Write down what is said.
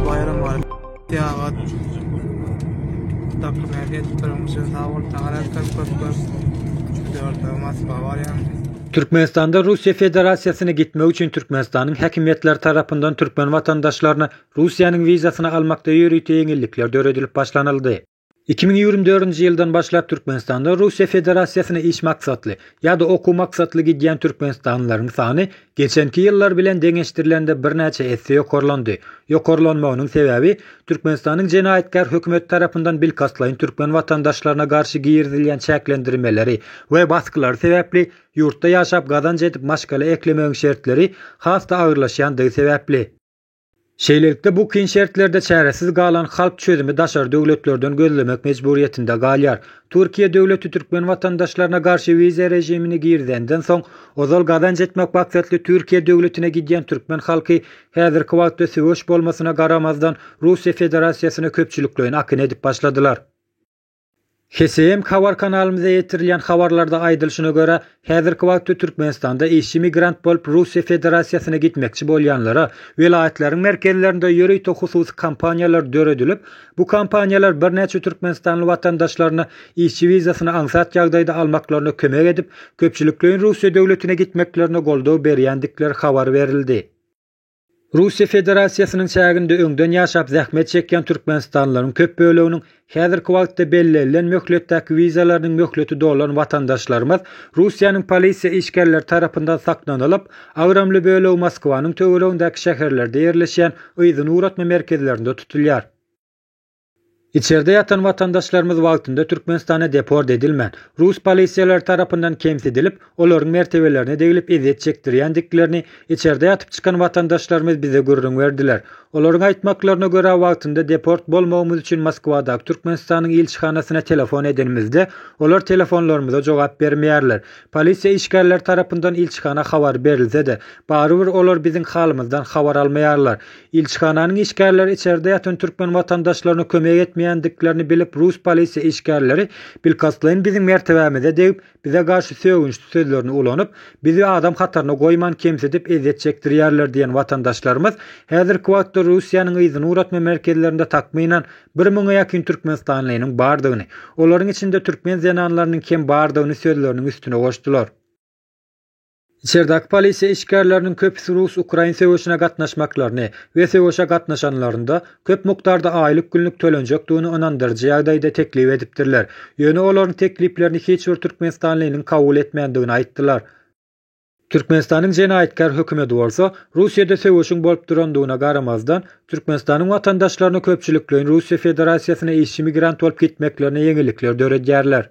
Bayram var. Tiyagat. Takım erkek kırmızı sağ ol. Tagarat kırk kırk kırk. Dört olmaz. Bavaryan. Türkmenistanda Russiýa Federasiýasyna gitmek üçin Türkmenistanyň häkimiýetleri tarapyndan türkmen watandaşlaryna Russiýanyň wizasyny almakda ýörite ýeňillikler döredilip başlanyldy. Iki müň ýigrimi dördünji ýyldan başlap Türkmenistanda Russiýa Federasiýasyna iş maksatly ýa-da okuw maksatly gidýän türkmenistanlylaryň sany geçenki ýyllar bilen deňeşdirilende birnäçe esse ýokarlandy. Ýokarlanmagynyň sebäbi Türkmenistanyň jenaýatkär hökümeti tarapyndan bilkastlaýyn türkmen watandaşlaryna garşy girizilýän çäklendirmeleri we baskylary sebäpli ýurtda ýaşap gazanç edip maşgala eklemegiň şertleri has-da agyrlaşýandygy sebäpli. Şeýlelikde, bu kyn şertlerde çäresiz galan halk çözümi daşary döwletlerden gözlemek mejburyýetinde galýar. Türkiýe döwleti türkmen watandaşlaryna garşy wiza režimini girizenden soň, ozal gazanç etmek maksatly Türkiýe döwletine gidýän türkmen halky häzirki wagtda söweş bolmasyna garamazdan Russiýa Federasiýasyna köpçülikleýin akyn edip başladylar. HSM habar kanalymyza ýetirilýän habarlarda aýdylyşyna görä, häzirki wagtda Türkmenistanda işçi migrant bolup Russiýa Federasiýasyna gitmekçi bolýanlara welaýatlaryň merkezlerinde ýörite hususy kompaniýalar döredilip, bu kompaniýalar birnäçe türkmenistanly watandaşlaryny işçi wizasyny aňsat ýagdaýda almaklaryna kömek edip, köpçülikleýin Russiýa döwletine gitmeklerine goldaw berýändikleri habar berildi. Russiýa Federasiýasynyň çäginde öňden ýaşap zähmet çekýän türkmenistanlylaryň köp böleginiň häzirki wagtda bellenilen möhletdäki wizalarynyň möhleti dolan watandaşlarymyz Russiýanyň polisiýa işgärleri tarapyndan saklanylyp, agramly bölegi Moskwanyň töweregindäki şäherlerde ýerleşýän yzyny ugratma merkezlerinde tutulýar. Içerde ýatan watandaşlarymyz wagtynda Türkmenistana deport edilmän, rus polisiýalary tarapyndan kemsidilip, olaryň mertebelerine degilip ezýet çekdirýändiklerini içerde ýatyp çykan watandaşlarymyz bize gürrüň berdiler. Olaryň aýtmaklaryna görä, wagtynda deport bolmagymyz üçin Moskwadaky Türkmenistanyň ilçihanasyna telefon edenimizde, olar telefonlarymyza jogap bermeýärler. Polisiýa işgärleri tarapyndan ilçihana habar berilse-de, barybir olar biziň halymyzdan habar almaýarlar. Ilçihananyň işgärleri içerde ýatan türkmen watandaşlaryna kömek etmeýändiklerini bilip rus polisiýa işgärleri bilkastlaýyn biziň mertebämize degip, bize garşy sögünçli sözlerini ulanyp, bizi adam hataryna goýman kemsidip ezýet çekdirýärler diýen watandaşlarymyz häzirki wagtda Russiýanyň yzyny ugratma merkezlerinde takmynan bir müňe ýakyn türkmenistanlynyň bardygyny, olaryň içinde türkmen zenanlarynyň kem bardygyny sözleriniň üstüne goşdular. Içerdäki polisiýa işgärleriniň köpüsi rus-ukrain söweşine gatnaşmaklaryny we söweşe gatnaşanlarynda köp mukdarda aýlyk günlük tölenjekdigini ynandyryjy ýagdaýda teklip edipdirler, ýöne olaryň tekliplerini hiç bir türkmenistanlynyň kabul etmändigini aýtdylar. Türkmenistanyň jenaýatkär hökümeti bolsa, Russiýada söweşiň bolup durandygyna garamazdan, Türkmenistanyň watandaşlaryna köpçülikleýin Russiýa Federasiýasyna işçi migrant bolup gitmeklerine ýeňillikler döredýärler.